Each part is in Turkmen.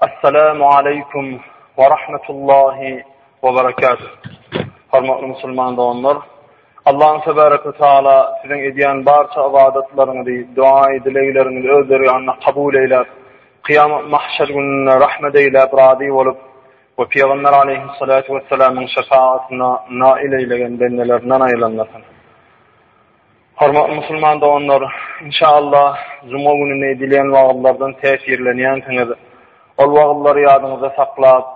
Assalamu aleykum we rahmetullahi we berekatuh. Hormatly musulman doganlar, Allahu tebaraka we taala siziň edýän barça ybadatlaryňyzy, duaý dilegleriňizi öz dergahynda kabul eýläp, kıyamet mahşer gününde rahmet eýläp, razy bolup we Peygamber aleyhissalatu vesselamyň şefaatine nail eýlegen bendelerinden aýlanmasyn. Hormatly musulman doganlar! Inşaallah, juma gününi edilýän wagyzlardan täsirlenýänsiňiz. Ol wagyzlary ýadyňyzda saklap,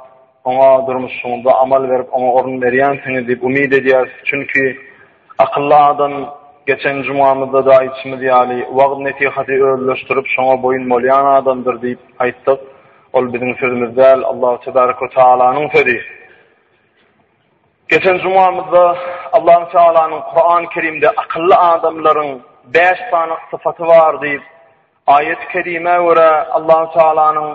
oňa durmuşyňyzda amal berip, oňa orun berýänsiňiz diýip umyt edýäris. Çünki, akylly adam, geçen jumamyzda-da aýdyşymyz ýaly, wagyz-nesihaty özleşdirip, şoňa boýun bolýan adamdyr diýip aýtdyk. Ol biziň sözümiz däl, Allahu tebärik we tagalanyň sözi. Geçen jumamyzda Allahu Tealanyň Kurany Kerimde akylly adamlaryň bäş sany sypaty bar diýip, aýaty kerimä görä Allahu Tealanyň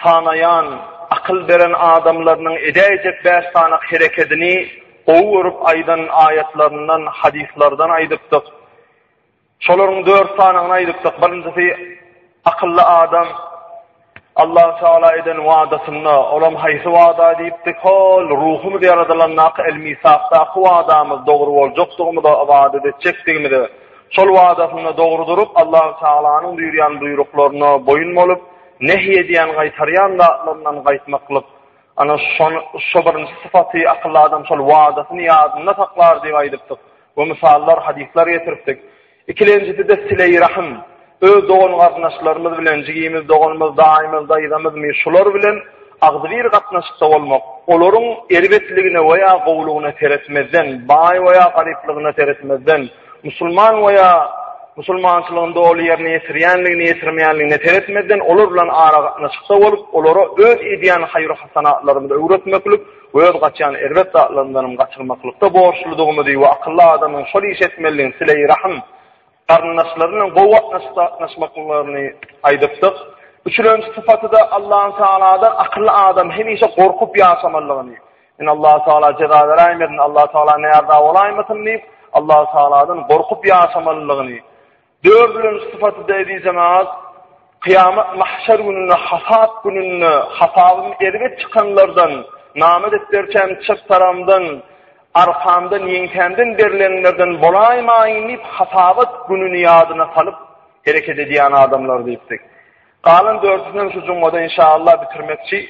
sanaýan akyl beren adamlarynyň edäýjek bäş sany herekedini gowy görüp aýdan aýatlaryndan, hadyslardan aýdypdyk. Şolaryň dört sanyny aýdypdyk. Birinjisi akylly adam Allah Taala eden wadasynda, olam haýsy wada diýipdik? Hol ruhumyz ýaradylandaky el-misakdaky wadamyz dogry boljakdygymyza ybadat etjekdigimize. Şol wadasynda dogry durup, Allah Taalanyň buýurýan buýruklaryna boýun bolup, nehy edýän, gaýtarýan zatlaryndan gaýtmaklyk. Ana şony, şo birinji sypaty akylly adam şol wadasyny ýadynda saklar diýip aýdypdyk. Bu mysallar, hadyslar getiripdik. Ikilenjisi-de sile-i rahym. Öz dogan-garyndaşlarymyz bilen, jigimiz, doganymyz, daýymyz, daýzamyz mi, şular bilen agzybir gatnaşykda bolmak, olaryň erbetligine we ýa gowulygyna seretmezden, baý we ýa garyplygyna seretmezden, musulman we ýa musulmançylygyny doly ýerine ýetirýänligine, ýetirmeýänligine seretmezden, olar bilen aragatnaşykda bolup, olara öz edýän haýyr-hasanatlarymyzy öwretmeklik, Öz gaçýan erbet zatlarymdanam gaçyrmaklykda borçludygymyzy we akylly adamyň şol işi etmelidigini, sile-i rahym, garyndaşlary bilen gowy gatnaşyk saklanyşmaklyklaryny aýdypdyk. Üçülenji sypaty-da Allahu tagaladan akylly adam hemişe gorkup ýaşamalydygyny, Men Allahu tagala jeza beräýmezin, Allahu tagala näraza bolaýmasyn diýip, Allahu tagaladan gorkup ýaşamalydygyny, Dördünji sypaty-da eziz jemaat, kyýamat mahşer gününde, hasap gününde, hasabyň erbet çykanlardan, name depderçäm çep tarabymdan, arkamdan, ýeňsämden berlenlerden bolaýmaýyn diýip, hasabat gününi ýadyna salyp hereket edýän adamlar diýipdik. Galan dördüsinem şu jumada inşaallah bitirmekçi.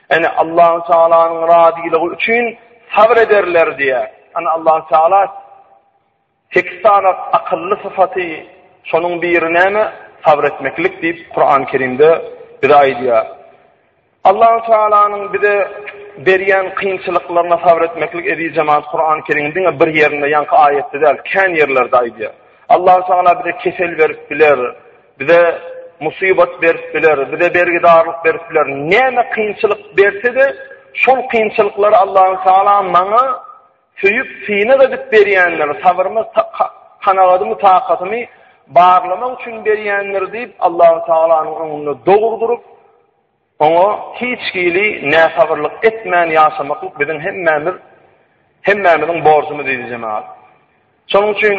Ene Allahu Taalanyň razylygy üçin sabr ederler diýýär. Ene Allahu Taala sekiz sany akylly syfaty, şonuň biri näme? Sabr etmeklik diýip Kurany Kerimde bize aýdýar. Allahu Taalanyň bize berýän kynçylyklaryna sabr etmeklik eziz jemaat Kurany Kerimiň diňe bir ýerinde ýaňky aýatda däl, kän ýerlerde aýdýar. Allahu Taala bize kesel berip biler. Bize musybat berip biler, bize bergidarlyk berip biler. Näme kynçylyk berse-de, şol kynçylyklary Allahu Taala maňa söýüp, synag edip berýändir. Sabyrmy, kanagadymy, takatymy barlamak üçin berýändir diýip, Allahu Taalanyň öňünde dogrudyryp, Oňa hiç hili näsabyrlyk etmän ýaşamaklyk biziň hemmämiz hemmämiziň borjumyz eziz jemagat. Şonuň üçin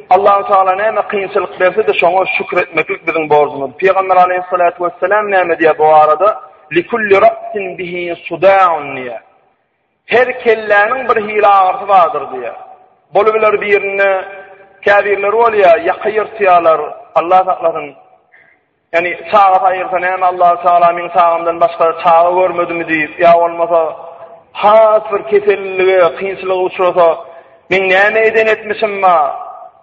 Allahu Taala näme kynçylyk berse-de şoňa şükür etmeklik biziň borjumyz. Pygamber Aleyhissalatu vesselam näme diýýär bu barada? Likulli ra'sin bihi suda'un diýýär. Her kelläniň bir hili agyrysy bardyr diýýär. Bolubiler birinde käbirleri bolýar, ýaka ýyrtýarlar, Allah saklasyn. Ýagny çagasy aýyrsa näme Allahu Tagala meň çagamdan başga çaga görmedimi diýip ýa bolmasa has bir kesellige, kynçylyga uçrasa meň näme eden etmişim ba?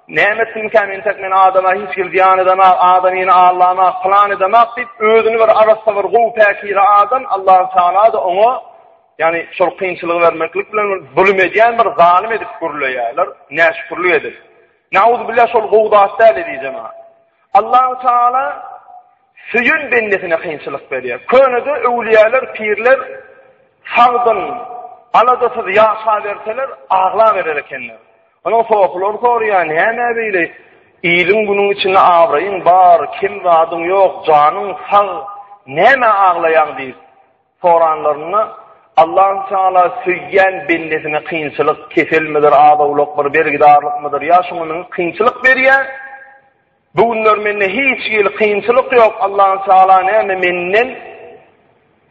Näme etdimkä men tek men adama hiç kim zyýan edemä, adamyny allamä, plan edemä diýip özüni bir arassa bir gowy päkize adam Allahu Tagala-da oňa ýagny şol kynçylygy bermeklik bilen zulum edýän bir zalym edip gürleýärler, näşükürlik edip. Näuzubillah şol gowy zat däl edijemä. Allahu Teala söýen bendesine kynçylyk berýär. Könede öwlüýäler, pirler sagdyn, aladasyz ýaşaberseler, aglaberer ekenler. Onuň sohulary soraýar, näme beýle? Iliň günüň içinde abraýyň bar, kim zadyň ýok, janyň sag, näme aglaýaň diýip. Soranlarynda, Allahü Teala söýýän bendesine kynçylyk, keselmidir, az-owlakmyr, bergidarlykmydyr, ýa şuňa münüp kynçylyk berýär? Bu günler mende hiç hili kynçylyk ýok, Allahü Teala näme menden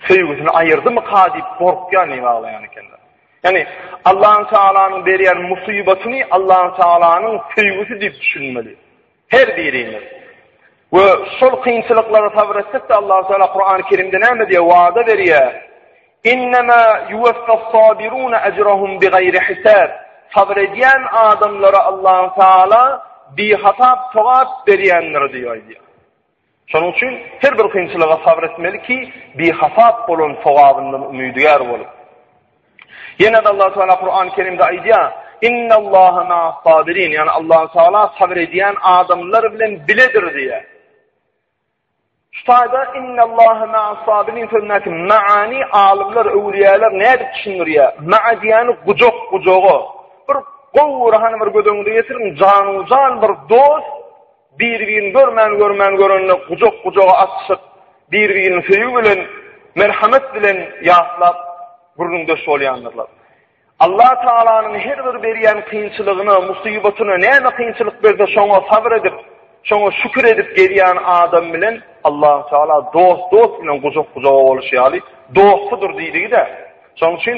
söýgüsini aýyrdymyka diýip gorkýan diýip aglaýan ekenler. Ýani Allahü Tealanyň berýän musybatyny Allahü Tealanyň söýgüsi diýip düşünmeli. Her birimiz we şol kynçylyklara sabyr etsek-de Allahu Teala Kurany Kerimde näme diýýär? Wada berýär. Innema yuwaffas-sabiruna ajrahum bigaýri hisab. Sabyr edýän adamlara Allahu Teala bihasap sogap berýändir diýip aýdýar. Şonuň üçin her bir kynçylyga sabyr etmeli ki, bihasap bolan sogabyndan umydygär bolup. Ýene-de Allahu Teala Kurany Kerimde aýdýar, Innallaha ma'as-sabirin, ýagny Allahu Teala sabyr edýän adamlar bilen biledir diýýär. Şu taýda Innallaha ma'as-sabirin sözündäki maani alymlar, öwlüýäler nädip düşündirýär? Ma'a diýýäni gujak, gujaga. Bir gowy ruhany bir göz öňünde ýetiriň, janu-jan bir dost, Bir-birini görmän-görmän görende gujak-gujaga atyşyp, bir-birini söýgi bilen, merhamet bilen ýatlap, gürrüňdeş bolýandyrlar. Allah Tagalanyň her bir berýän kynçylygyna, musybatyna näme kynçylyk berse şoňa sabyr edip, şoňa şükür edip gezýän adam bilen Allah Tagala dost dost bilen gujak-gujaga boluşy ýaly dostudyr diýdigi-de. Şonuň üçin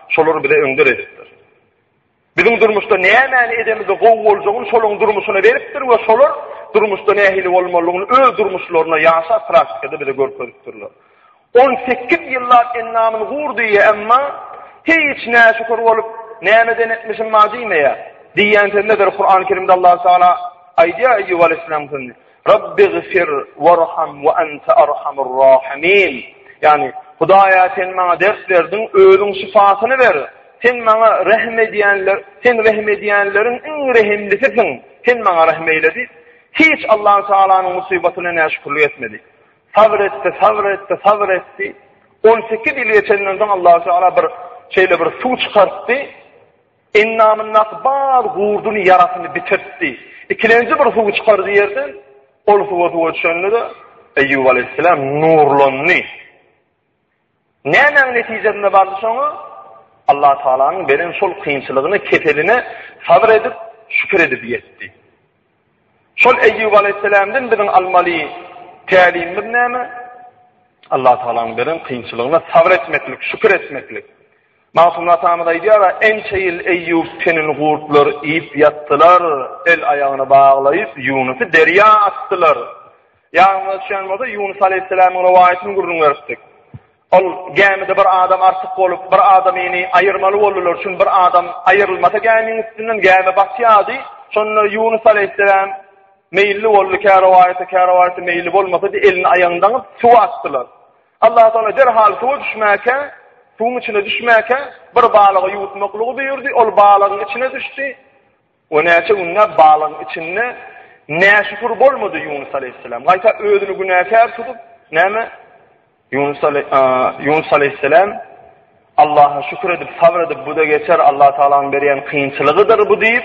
Şolary bize öňder edipdir. Biziň durmuşda nämäni edemizde gowy boljagyny şolaryň durmuşyna beripdir we şolar durmuşda nähili bolmalygyny öz durmuşlaryna ýaşap praktikada bize görkezipdirler. On sekiz ýyllap endamyny gur diýýär, emma hiç näşükür bolup, nämeden etmişim bar diýmeýär. Diýýän sözündedir Kur'an-Kerimde Allah Taala aýdýar Eýýup aleyhissalam sözüni. Rabbigfir warham we ente arhamur rahimin, ýagny, Hudaýa sen maňa dert berdiň, özüň şypasyny ber, sen maňa rehim edýänler, sen rehim edýänleriň iň rehimlisisiň, sen maňa rehim eýle diýip, hiç Allahu Tagalanyň musybatyna näşükürlik etmedi. Sabr etdi, sabr etdi, sabr etdi. On sekiz ýyl geçenden soň Allahu Tagala bir şeýle bir suw çykartdy. Endamyndaky bar gurduny, ýarasyny bitirtdi. Ikilenji bir suwy çykardy ýerden. Ol suwa suwa düşende-de, Eýýup alaýhyssalam nurlandy. Nämäň netijesinde bardy şoňa? Allah Tagalanyň beren şol kynçylygyna, keseline sabyr edip, şükür edip ýetdi. Şol Eýýup alaýhyssalamdan biziň almaly tälimimiz näme? Allah Tagalanyň beren kynçylygyna sabyr etmeklik, şükür etmeklik. Magtymguly atamyz aýdýar, Ençe ýyl Eýýup tenini gurtlar iýip ýatdylar, el-aýagyny baglaýyp, Ýunusy derýa atdylar. Ýadymyza düşen bolsa, Ýunus alaýhyssalamyň rowaýatyny gürrüň beripdik. Ol gämide bir adam artyk bolup, bir adamyny aýyrmaly boldular, çünki bir adam aýyrylmasa gämiň üstünden gämi batýardy. Şonda Ýunus aleýhisselam meýilli boldy, kä rowaýata, kä rowaýata meýilli bolmasa, elini aýagyny daňyp, suwa atdylar. Allah Taala derhal suwa düşmäkä, suwuň içine düşmäkä bir balygy ýuwutmaklygy buýurdy. Ol balygyň içine düşdi. O näçe günläp balygyň içinde näşükür bolmady Ýunus aleýhissalam. Gaýta özüni günäkär tutup, näme? Ýunus ale, Ýunus aleýhissalam Allaha şükür edip, sabr edip, bu da geçer, Allah Taalanyň berýän kynçylygydyr bu diýip,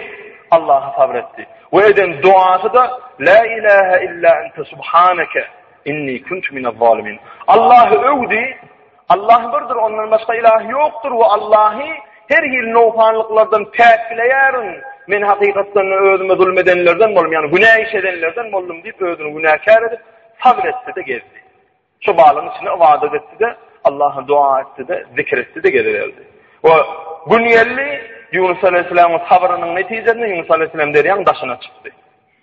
Allaha sabr etdi. We eden duasy da La ilaha illa ente subhanaka inni kuntu minez zalimin. Allahy öwdi, Allah birdir, ondan başga ilah ýokdur we Allahy her hili nowsanlyklardan päkleýärin. Men hakykatdan özüme zulm edenlerden boldum, ýagny günä iş edenlerden boldum diýip özüni günäkär edip, sabr etdi-de gezdi. Şu balyň içinde ibadat etdi-de, Allaha dua etdi-de, zikr etdi-de geziberdi. We gün geldi, Ýunus aleyhissalam sabriniň netijesinde Ýunus aleyhissalam derýaň daşyna çykdy.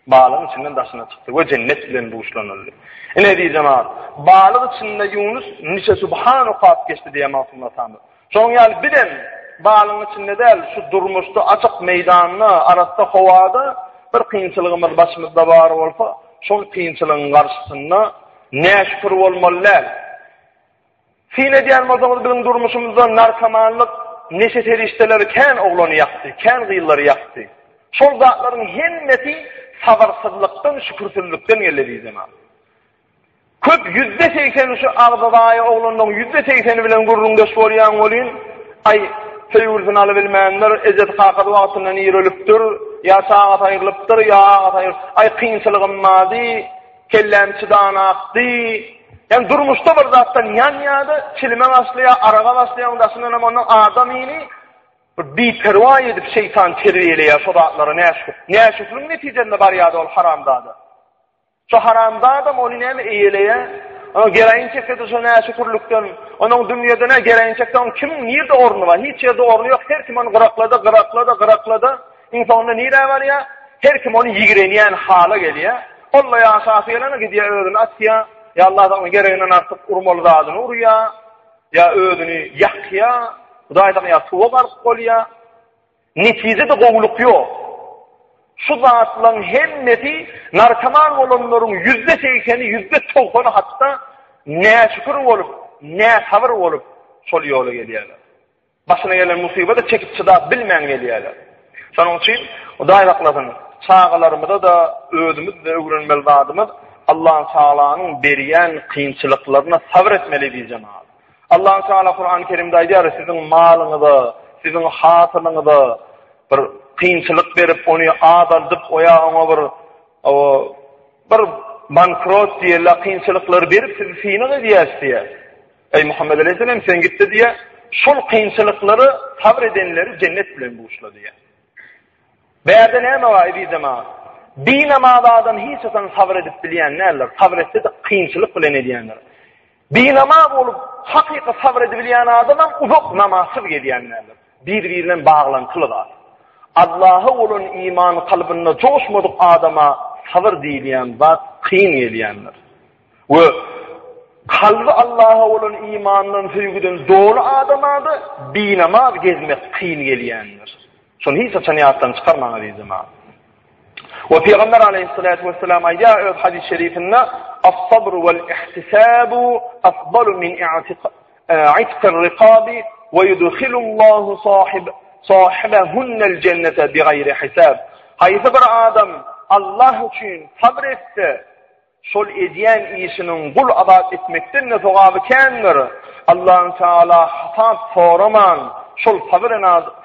Balygyň içinden daşyna çykdy we jennet bilen buşlanyldy. Ine, eziz jemagat, balyk içinde Ýunus niçe subhan okap geçdi diýýär Magtym atamyz. Şonuň ýaly biz hem balygyň içinde däl, şu durmuşda açyk meýdanda, arassa howada bir kynçylygymyz başymyzda bar bolsa, şol kynçylygyň garşysynda näşükür bolmaly däl. Syn edýän bolsaňyz biziň durmuşymyzda narkomanlyk, neşe serişdeleri kän oglany ýakdy, kän gyzlary ýakdy. Şol zatlaryň hemmesi sabyrsyzlykdan, şükürsizlikden geldi bizemä. Köp ýüzde segsen şu agzybay oglanlaryň ýüzde segseni bilen gürrüňdeş bolýan welin, aý, söýgülisini alybilmändir, ejesi kakasy wagtynda nirelipdir, ýa çagasy aýrylypdyr, ýa agasy aýrylypdyr, aý kynçylygym bardy, Kelläm çydan akdy. Ýani durmuşda bir zatdan ýanýada, çilime başlaýa, araga başlaýa, daşyndan hem ondan adam ini bir biperwa edip şeýtan terbiýeleýä şo zatlara näşükür. Näşükriň netijesinde barýada ol haramzada. Şo haramzadam ony näme eýeleýä? Ana geraýin çekdi şo näşükürlikden. Onuň dünýäde nä geraýin çekdi, onuň kim nirde orny bar? Hiç ýerde orny ýok. Her kim ony gyraklady, gyraklady, gyraklady. Iň soňunda nirä barýar? Her kim ony ýigrenýän hala gelýär. Ol-da ýaşasy gelende gidýär özüni atýar. Ýa Allah sagna gereginden artyk urmaly zadyny urýar. Ýa özüni ýakýar. Hudaý sagna ýa suwa gark bolýar. Netijede gowulyk ýok. Şu zatlaryň hemmesi narkoman bolanlaryň ýüzde segseni, ýüzde togsany hatda näşükür bolup, näsabyr bolup şol ýola gelýärler. Başyna gelen musybada çekip-çydap bilmän gelýärler. Şonuň üçin Hudaý saklasyn, çagalarymyza-da, özümiz-de öwrenmeli zadymyz Allatagalaň berýän kynçylyklaryna sabyr etmeli biz jemagat. Allatagala Kurany Kerimde aýdýar, siziň malyňyza, siziň hasylyňyza bir kynçylyk berip, ony azaldyp, o ýa oňa bir bir bankrot diýeli kynçylyklary berip sizi synag edýäs diýýär. Eý Muhammet aleýhissalam sen gitde diýýär, şol kynçylyklara sabr edenleri jennet bilen buşla diýýär. Bärde näme bar ezizem aga? Binamaz adam hiç haçan sabr edip bilýän däldir. Sabr etse-de kynçylyk bilen edýändir. Binamaz bolup hakyky sabr edip bilýän adam hem uzak namazsyz gezýän däldir. Bir-biri bilen baglantyly zat. Allaha bolan iman kalbynda joşmadyk adama sabr diýilýän zat kyn gelýändir. We kalby Allaha bolan imandan, söýgüden doly adama-da binamaz gezmek kyn gelýändir. Şony hiç haçan ýatdan çykarmaň, aziz jemagat. We Pygamber aleýhissalatu wesselam aýdýar öz hadys şerifinde: "As-sabr wal-ihtisabu afdalu min i'tiqar-riqabi we yudkhilullahu sahib sahibahunal jennata bighayri hisab." Haýsy bir adam Allah üçin sabr etse, Şol edýän işiniň gul azat etmekden-de sogaby kändir. Allahü Teala hasap soraman, şol sabyr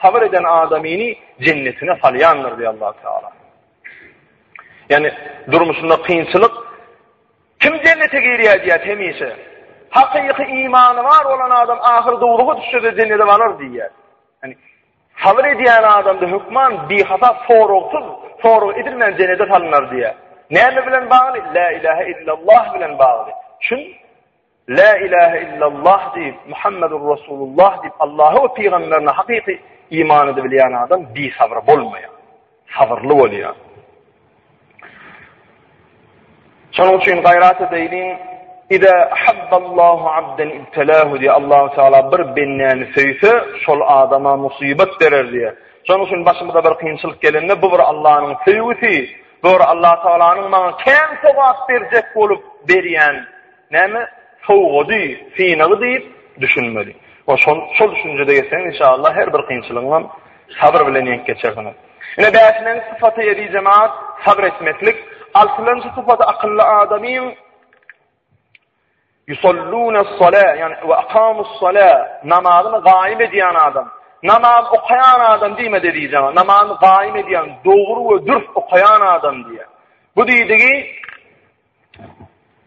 sabyr eden adamyny jennetine salýandyr diýýär Allahü Teala. Ýani durmuşynda kynçylyk kim jennete girýär diýýär hemişe. Hakyky imany bar bolan adam ahyr dowluga düşse-de jennete barar diýýär. Sabyr edýän adamda hökman bihasap soragsyz, sorag edilmän jenede salynar diýýär. Näme bilen bagly? Lä ilähe illallah bilen bagly. Şun Lä ilähe illallah diýip, Muhammedur Resulullah diýip, Allaha we pygamberine hakyky iman edibilýän adam bisabyr bolmaýar. Sabyrly bolýar. Şonuň üçin gaýrat edeýliň. Iza ahabballahu abdan ibtalahu diýýär. Allahu Taala bir bendäni söýse, şol adama musybat berer diýýär. Şonuň üçin başymyza bir kynçylyk gelende, bu bir Allahnyň söýgüsi, bu bir Allah Taalanyň maňa kän sogap berjek bolup berýän Näme sowgady, synagy diýip düşünmeli. We şol şol düşünjede geçseňiz inşallah her bir kynçylygyňam sabyr bilen ýeňip geçersiňiz. Ine bäşilenji sypaty eziz jemaat sabyr etmeklik. Altylanjy sypaty akylly adamyň Yusallunas-sala yani we akamus-sala namazyny gaýym edýän adam. Namaz okaýan adam diýme eziz jemaat. Namazyny gaýym edýän, dogry we dürs okaýan adam diýýär. Bu diýdigi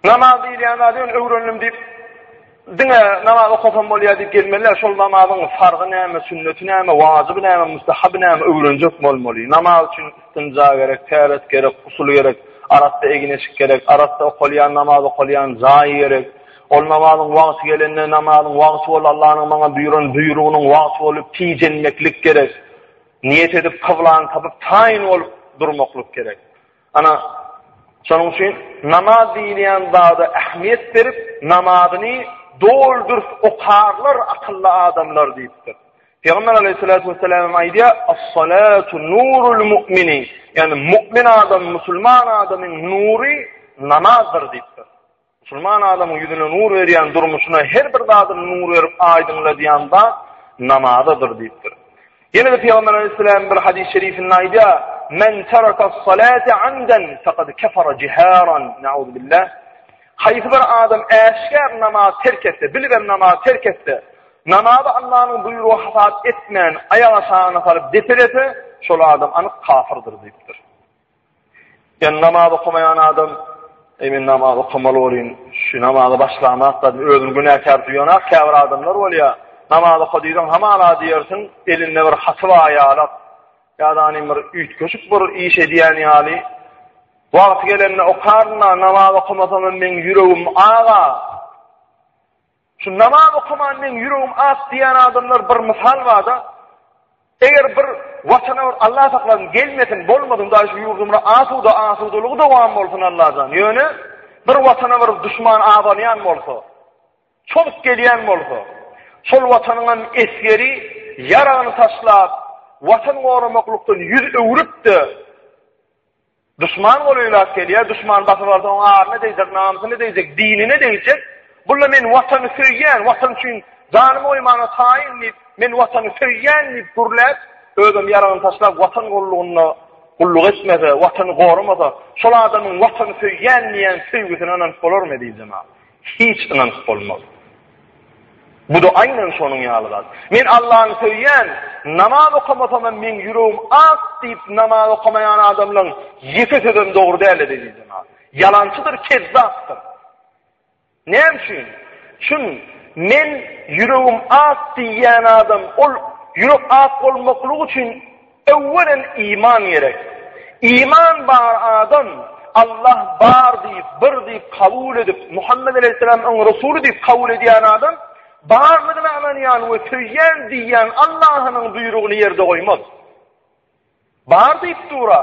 Namaz diýilýän zady ýöne öwrendim diýip, diňe namaz okasam bolýar diýip gelmeli däl. Şol namazyň farzy näme, sünneti näme, wajyby näme, müstehaby näme öwrenjek bolmaly. Namaz üçin istinja gerek, täret gerek, gusul gerek, arassa egin-eşik gerek, arassa okalýan namaz okalýan jaý gerek. Ol namazyň wagty gelende, namazyň wagty ol Allanyň maňa buýran buýrugynyň wagty bolup, tijenmeklik gerek. Niýet edip, kyblany tapyp, taýyn bolup durmaklyk gerek. Ana, şonuň üçin namaz diýilýän zada ähmiýet berip, namazyny doly-dürs okarlar akylly adamlar diýipdir. Pygamber Aleyhissalatu vesselam aýdýar: "As-salatu nurul mu'mini", ýagny mu'min adam, musulman adamyň nury namazdyr diýipdir. Musulman adamyň ýüzüne nur berýän, durmuşyna her bir zadyny nur berip aýdyňladýan zat namazadyr diýipdir. Ýene-de Pygamber Aleyhisselam bir hadys şerifinde aýdýar, Men terakas salate amdan faqad kafara jiharan. Nauzubillah. Haýsy bir adam äşgär namaz terk etse, bilibem namaz terk etse, namazy Allah'yň buýrugy hasap etmän, aýak aşagyna salyp depelese, şol adam anyk kafyrdyr diýipdir. Ýöne namaz okamaýan adam, Eý men namaz okamaly bolýyn, şu namaza başlamak da özüni günäkär duýanak käbir adamlar bolýar. Namaz oka diýseň hamala diýersiň, elinde bir haty bar ýalak. Ýa-da bir üýtgeşik bir iş edýän ýaly. Wagty gelende okaryn-da, namaz okamasam hem meň ýüregim aga. Şu namaz okaman meň ýüregim ak diýýän adamlar bir mysal barda, eger bir watana bir Allah saklasyn gelmesin bolmasyn daýy şu ýurdumyza asuda asudalygy dowam bolsun Allajan. Ýöne bir watana bir duşman abanýan bolsa, çozuk gelýän bolsa, şol watanyň hem esgeri ýaragyny taşlap, watan goramaklykdan ýüz öwrüp-de, Duşman ol öýläp gelýär, duşman basyp alsa oň aryna degjek, namysyna degjek, dinine degjek. Bulla men watany söýýän, watan üçin janymy goýmana taýyn diýip, men watany söýýän diýip gürläp, özem ýaragyny taşlap watan gullugynda gulluk etmese, watany gorumasa, şol adamyň watany söýýän diýen söýgüsine ynanyp bolarmy diýjemä. Hiç ynanyp bolmaz. Bu-da aýnan şonuň ýaly zat. Men Allany söýýän, namaz okamasam hem meň ýüregim ak diýip namaz okamaýan adamlaň ýeke sözem dogry däl ezizim-a. Ýalançydyr, kezzapdyr. Näme üçin? Çün men ýüregim ak diýýän adam, ol ýürek ak bolmaklygy üçin Öwwelem iman gerek. Iman bar adam Allah bar diýip, bir diýip kabul edip, Muhammet aleýhissalam oň resuly diýip kabul edýän adam barlygyna ynanýan we söýýän diýýän Allahynyň buýrugyny ýerde goýmaz. Bar diýip dura.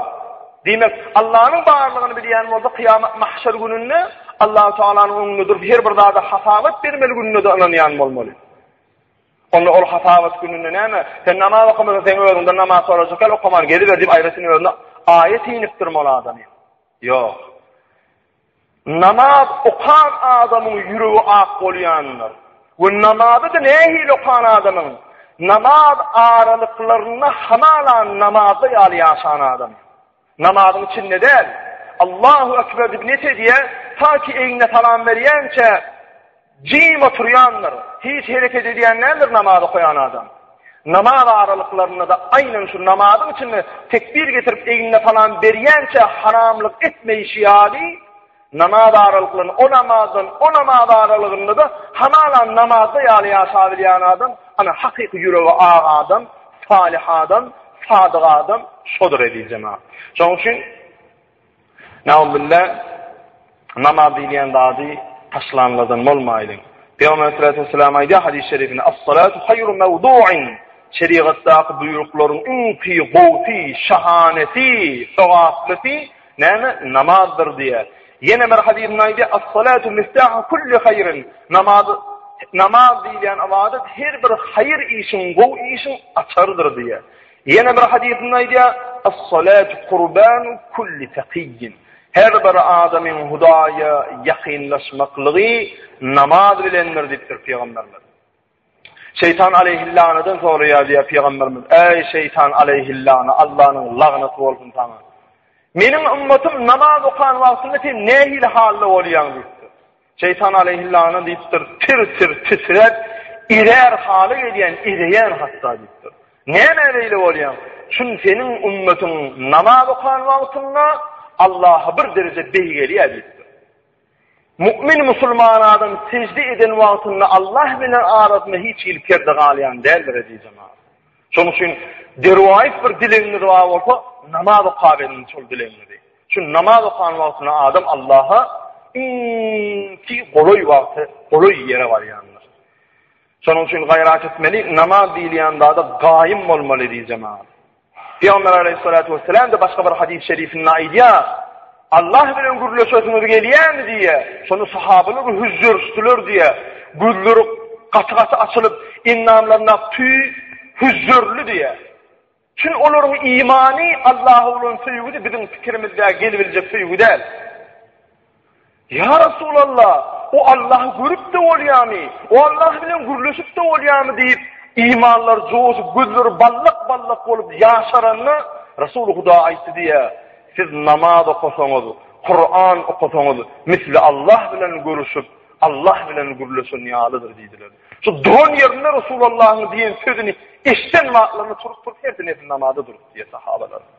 Diýmek, Allanyň barlygyny bilýän bolsa kyýamat mahşer gününde Allahu taalanyň öňünde durup her bir zada hasabat bermeli gününe-de ynanýan bolmaly. Onda ol hasabat gününde näme? Sen namaz okamasaň, seň özüňden namaz sorajaklar, okaman geziber diýip aýratyn özüne aýat inipdirmi ol adamy? Ýok. Namaz okan adamyň ýüregi ak bolýandyr. We namazy-da nähili okan adamyň? Namaz aralyklarynda hamala namazda ýaly ýaşan adam. Namazyň içinde däl, Allahu ekber diýip niýet edýär, taýki egnine salam berýänçä jim oturýandyr, hiç hereket edýän däldir namaz okaýan adam. Namaz aralyklarynda-da aýnan şu namazyň içinde tekbir getirip egnine salam berýänçä haramlyk etmeýşi ýaly, Namaz aralyklaryny, o namazdan, o namaz aralygynda-da hamala namazda ýaly ýaşabilýän adam, ana, hakyky ýüregi ak adam, salyh adam, sadyk adam şodur eziz jemagat. Şonuň üçin, naubille, namaz diýilýän zady taşlanlardan bolmaýlyň. Pygamber sallallahu aleyhi ve sellem aýdýar hadis-i şerifinde: "Es-salatu haýru mewdu'in." Şerigatdaky buýruklaryň iň gowy, şahanesi, sogaplysi Näme? Namazdyr diýýär. Ýene bir hadysynda aýdýar, As-salatu miftahu kulli haýrin. Namaz Namaz diýilýän ybadat her bir haýyr işiň, gowy işiň açarydyr diýýär. Ýene bir hadysynda aýdýar, As-salatu kurbanu kulli takiyyin. Her bir adamyň Hudaýa ýakynlaşmaklygy namaz bilendir diýipdir Pygamberimiz. Şeýtan aleýhillanadan soraýar diýýär pygamberimiz, Äý şeýtan aleýhillana, Allanyň lagnaty bolsun saňa. Meniň ümmetym namaz okan wagtynda sen nähili halda bolýaň diýipdir. Şeýtan aleýhillana diýipdir, tir-tir titräp, irär haly gelýän, ireýän hatda diýipdir. Näme beýle bolýaň? Şun seniň ümmetiň namaz okan wagtynda Allaha bir dereje beýgelýär diýipdir. Mu'min musulman adam sejde eden wagtynda Allah bilen arasynda hiç hili perde galýan däldir eziz jemaat. Şonuň üçin derwaýys bir dilegiňiz bar bolsa, namaz okap ediň şol dilegiňizi. Çünki namaz okan wagtyna adam Allaha iň ki golaý wagty, golaý ýere barýandyr. Şonuň üçin gaýrat etmeli, namaz diýilýän zada gaýym bolmaly diýjemaat. Pygamber aleýhissalatu wesselam-da başga bir hadys-y şerifinde aýdýar, Allah bilen gürleşesiňiz gelýärmi diýýär. Şony sahabalar hüzürşdiler diýýär. Gözleri gaty-gaty açylyp, endamlaryna tüý hüzürli diýýär. Çünki olaryň imany Allaha bolan söýgüdi, biziň pikirimizde gelibiljek söýgü däl. Ýa Resulalla, o Allahy görüp-de bolýamy, o Allah bilen gürleşip-de bolýamy diýip, imanlary joşup, gözleri ballak-ballak bolup ýaşaranda, Resuly Huda aýtdy diýýä, Siz namaz okasaňyz, Kuran okasaňyz, misli Allah bilen görüşip, Allah bilen gürleşen ýalydyr diýdiler. Şu duran ýerinde Resulallahyň diýen sözüni eşden wagtlaryna turup-turup, her dinesini namaza durup diýýä sahabalar.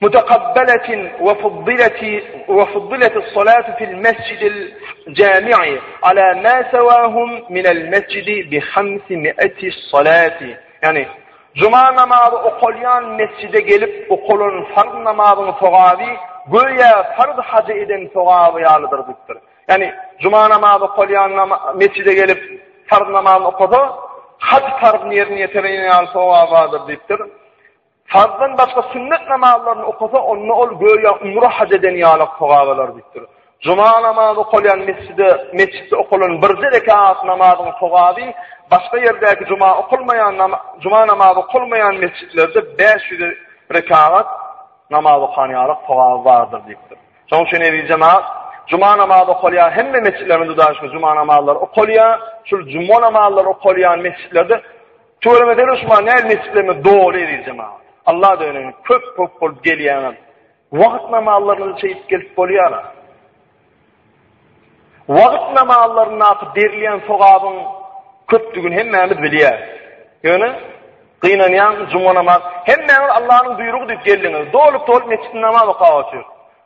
Mutakabbalatin we fuddilati we fuddilatis salatu fil mesjidil jami'i ala ma sawahum minel mesjidi bi hamsi mi'ati salati. Ýani, juma namazy okalýan mesjide gelip okalan farz namazyň sogaby göýä farz hajy eden sogaby ýalydyr diýipdir. Ýani, juma namazy okalýan mesjide gelip farz namazyny okasa, haj farzyny ýerine ýetiren ýaly sogaby bardyr diýipdir. Farzdan başga sünnet namazlaryny okasa, onda ol göýä umra haj eden ýaly sogablar diýipdir. Juma namazy okalýan mesjide, mesjitde okalan birje rekat namazyň sogaby başga ýerdäki juma okalmaýan juma namazy okalmaýan mesjitlerde bäş ýüz rekagat namaz okan ýaly sogaby bardyr diýipdir. Şonuň üçin eziz jemaat, juma namazy okalýar, hemme mesjitlerimiz duşa juma namazlary okalýar. Şul juma namazlary okalýan mesjitlerde Tüweleme Derwüşman nädip nesipleme doly eziz jemagat. Allah döneň köp köp bolup gelýäňiz. Wagt namallaryny çeýip gelip bolýara. Wagt namallaryny berilýän sogabyň köpdügini hemmämiz bilýäris. Ýöne gynanýan juma namaz hemmäňiz Allahnyň buýrugy diýip geldiňiz. Doly doly mesjid namaz okap otyr.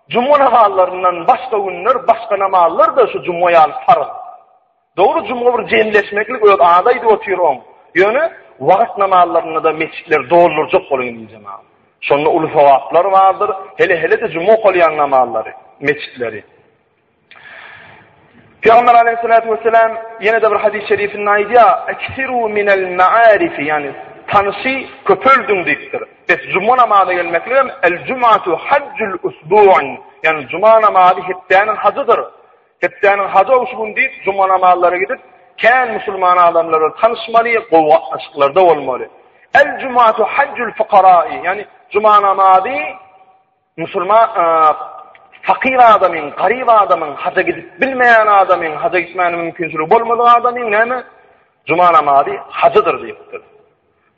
Juma namazlaryndan başga günler başga namazlar da şu juma ýaly farz. Dogry juma bir jemleşmeklik öz azy aýdyp otyr oň. Ýöne wagyz namazlarynda-da metjitleri doldurjak boluň indi jemagat. Şonda uly sogaplar bardyr. Hele hele-de juma okalýan namazlary, metjitleri. Pygamber aleýhissalatu wessalam ýene-de bir hadys şerifinde aýdýar, Eksiru minel ma'arifi, ýagny tanşy köpeldiň diýipdir. Bes juma namaza gelmeklik hem el-jumatu hajjul usbu'un, ýagny juma namazy hepdäniň hajydyr. Hepdäniň hajow şu gün diýip, juma namazlara gidip, kän musulman adamlar bilen tanyşmaly, gowy gatnaşyklarda bolmaly. El-jumatu hajjul fukarai, ýagny juma namazy musulman fakir adamyň, garyp adamyň, haja gidip bilmeýän adamyň, haja gitmäne mümkinçiligi bolmadyk adamyň näme? Juma namazy hajydyr diýipdir.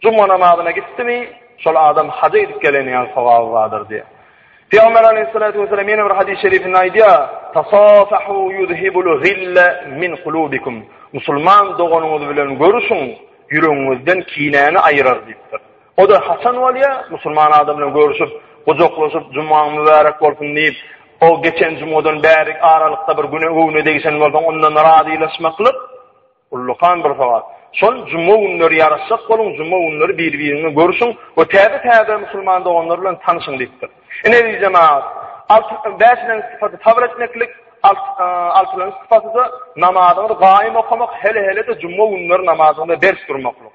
Juma namazyna gitdimi, şol adam haja gidip geleni ýaly sogaby bardyr diýýär. Pygamber aleýhissalatu wesselam ýene bir hadys şerifinde aýdýar, Tasafahu yuzhibul gille min kulubikum. Musulman doganyňyz bilen görüşiň, ýüregiňizden kinäni aýyrar diýipdir. O da haçan bolýar? Musulman adam bilen görüşip, gujaklaşyp, Jumaň mübärek bolsun diýip, o geçen jumadan bärik aralykda bir güne göwne degişen bolsaň, ondan razylaşmaklyk. Ullakan bir sowal. Şol juma günleri ýaraşjak boluň, juma günleri bir-biriňi görşüň we täze-täze musulman doganlar bilen tanyşyň diýipdir. Ine eziz jemagat, alty, bäşilenji sypaty sabyr etmeklik, alty, altylanjy sypaty-da namazyňyzy gaýym okamak, hele-hele-de juma günleri namazyňyza berk durmaklyk.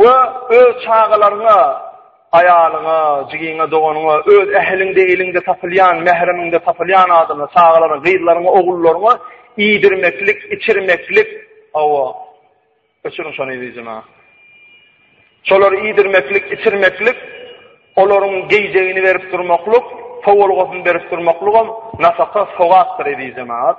We öz çagalaryňa, aýalyňa, jigiňe, doganyňa, öz ähliňde, iliňde tapylýan, mähremiňde tapylýan adama, çagalaryňa, gyzlaryňa, ogullaryňa iýdirmeklik, içirmeklik, hawa, öçüriň şony yzyjyna. Şolary iýdirmeklik, içirmeklik, olaryň geýjegini berip durmaklyk, sowulgasyny berip durmaklygam, nafaka, sogapdyr, eziz jemagat.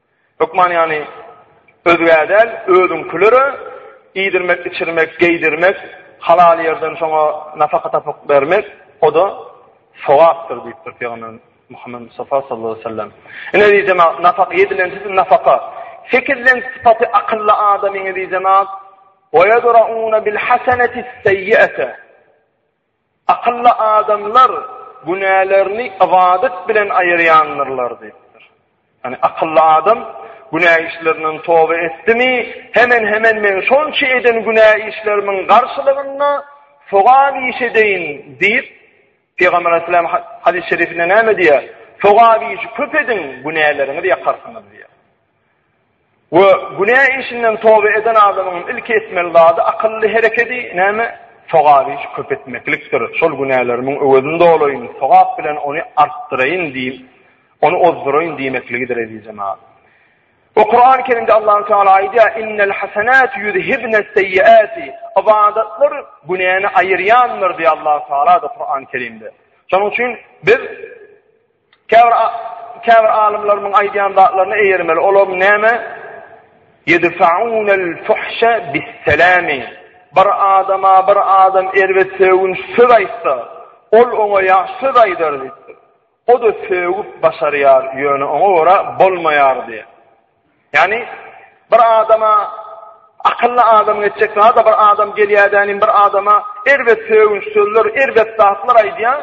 Hökman ýagny özgä däl, özüňkilere iýdirmek, içirmek, geýdirmek, halal ýerden şoňa nafaka tapyp bermek, o-da sogapdyr diýipdir Pygamberimiz Muhammet Mustafa sallallahu aleýhi we sellem. Ine eziz jemaat, nafaka edilen siz nafaka. Sekizden sypaty akylly adamyň eziz jemaat, "Wa yadra'una bil hasanati sayyi'ata." Akylly adamlar günälerini ybadat bilen aýyrýandyrlar diýipdir. Ýani akylly adam günä işlerinden toba etdimi, hemen-hemen men şonça eden günä işlerimiň garşylygynda sogap iş edeýin diýip, Pygamber Aleyhisselam hadys-şerifinde näme diýýär? Sogap işi köp ediň, günäleriňizi ýakarsyňyz diýýär. We günä işinden toba eden adamyň ilki etmeli zady akylly herekedi, näme? Sogap işi köp etmeklikdir. Şol günälerimiň öwezini dolaýyn, sogap bilen ony artdyraýyn diýip, ony ozduraýyn diýmekligidir, eziz jemagat. We Kurany Kerimde Allahu Teala aýdýar, Innel hasenatu ýuzhibnes seýyiati, ybadatlar günäni aýyrýandyr diýýär Allahu Teala-da Kurany Kerimde. Şonuň üçin biz, Käbir käbir alymlarymyň aýdýan zatlaryna eýermeli. Olam näme? Ýedfa'unel fuhşe bis-selami. Bir adama bir adam erbet sögün söz aýtsa, ol oňa ýagşy söz aýdar diýipdir. O-da sögüp başarýar, ýöne oňa görä bolmaýar diýýär. Ýagny bir adama akylly adamyň etjek zady bir adam gelýädänim bir adama erbet sögünç sözler, erbet zatlar aýdýar.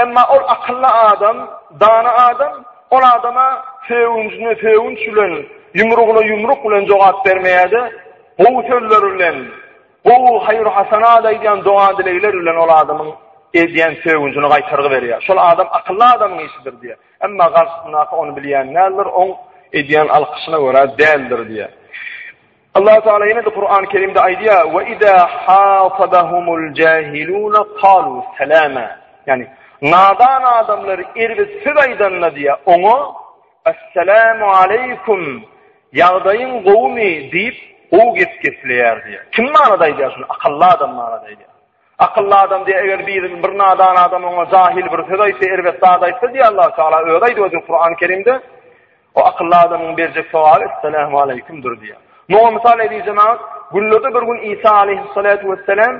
Emma ol akylly adam, dana adam ol adama sögünçini sögünç bilen, ýumrugyna ýumruk bilen jogap bermeýärdi. Gowy sözler bilen, gowy haýyr hasanat aýdýan doga dilegler bilen ol adamyň edýän sögünçini gaýtargy berýär. Şol adam akylly adamyň işidir diýýär. Emma garşysyndaky ony bilýän däldir, oň edýän alkyşyna görä däldir diýýär. Allahu Teala ýene-de Kur'an-y Kerimde aýdýar: "Ve iza hasadahumul jahilun qalu salama." Ýani, nadan adamlar erbet söz aýdanda diýýär, oňa "Assalamu aleykum, ýagdaýyň gowumy?" diýip, gowy gep gepleýär diýýär. Kim manada aýdýar şuny? Akylly adam manada aýdýar. Akylly adam diýýär, eger bir bir nadan adam oňa jahyl bir söz aýtsa, erbet zat aýtsa diýýär, Allahu Teala özi aýdyp otur Kurany Kerimde. O akylly adamyň berjek sowaly Esselamu aleýkumdyr diýýär. Muňa mysal edýän jemagat, günlerde bir gün Isa aleýhissalatu wessalam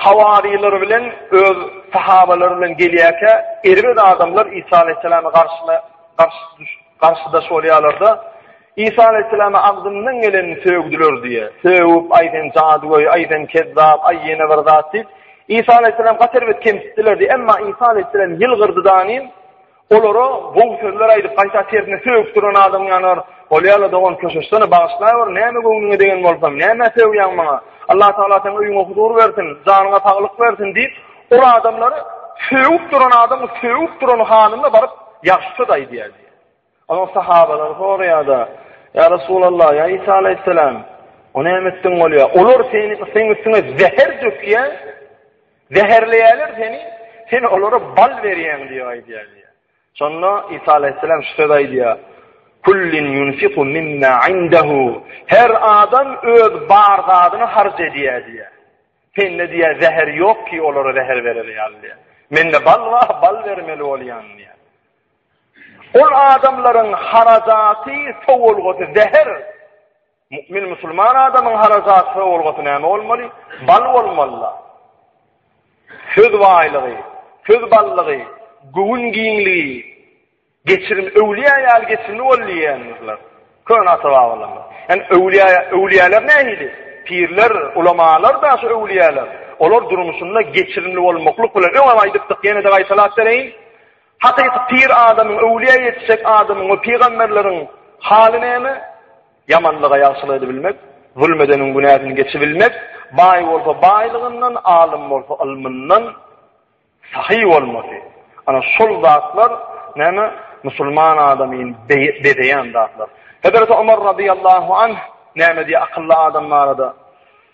hawarylar bilen öz sahabalary bilen gelýärkä, erbet adamlar Isa aleýhissalama garşyna garşy garşydaş bolýarlar-da, Isa alaýhyssalama agzymdan gelenini sögdüler diýe. Sögüp, aý sen jadygöý, aý sen kezzap, aý ýene bir zat diýip, Isa alaýhyssalamy gaty erbet kemsitdiler diýe. Emma Isa alaýhyssalam ýylgyrdy danym, olara gowy sözler aýdyp, gaýta tersine sögüp duran adamyň ýanyna baryp, Bolýa-la dogan, köşeşsene, bagyşlaýber, näme göwnüňe degen bolsam, nämä sögýäň maňa? Allah Tagala seň öýüňe huzur bersin, janyňa saglyk bersin diýip, ol adamlary sögüp duran adamy sögüp duran halyna baryp, ýagşy söz aýdýar diýe. Onuň sahabalary soraýar-da, Ýa Resulallah, ýa Isa alaýhyssalam, o näme etdigiň bolýar? Olar seni, seniň üstüňe zäher dökýär, zäherleýärler seni, sen olara bal berýäň diýip aýdýar diýýär. Şonda Isa alaýhyssalam şu sözi aýdýar, Kullin yunfiku mimma indahu. Her adam öz bar zadyny harç edýär diýýär. Sende diýýär zäher ýok ki, olara zäher bereli ýaly diýýär. Mende bal bar, bal bermeli bolýan diýýär. Ol adamlaryň harajaty, sowulgasy zäher. Mu'min musulman adamyň harajaty, sowulgasy näme bolmaly? Bal bolmaly. Söz baýlygy, söz ballygy, göwün giňligi, geçirim öwliýa ýaly geçirimli bol diýýändirler. Köne ata-babalarymyz. Yani öwliýa, öwliýalar nähili? Pirler, ulamalar da şu öwliýalar. Olar durmuşynda geçirimli bolmaklyk bilen öňem aýdypdyk, ýene-de gaýtalap bereýin. Hakyky pir adamyň, öwlüýä ýetişjek adamyň we pygamberleriň haly näme? Ýamanlyga ýagşylyk edibilmek, zulum edeniň günäsini geçibilmek, baý bolsa baýlygyndan, alym bolsa ylmyndan sahy bolmasy. Ana şol zatlar näme? Musulman adamyny bezeýän zatlar. Hezreti Omar radiyallahu anh näme diýýär akylly adam barada?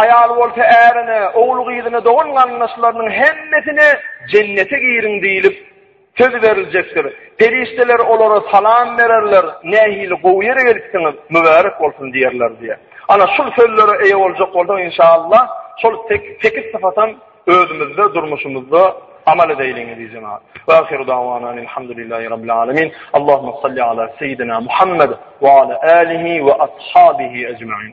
Aýal bolsa ärine, ogul-gyzyna, dogan-garyndaşlarynyň hemmesine Jennete giriň diýlip, söz beriljekdir. Perişdeler olara salam bererler, Nähili gowy ýere gelipsiňiz, mübärek bolsun diýerler diýýär. Ana, şul sözlere eýe boljak bolsaň, inşaallah, şol sekiz sypatam özümizde, durmuşymyzda amal edeýliň, eziz jemagat. Wa ahiru dawana anil hamdulillahi rabbil alamin. Allahumma salli ala seýidina Muhammad wa ala alihi wa ashabihi ejmaîn.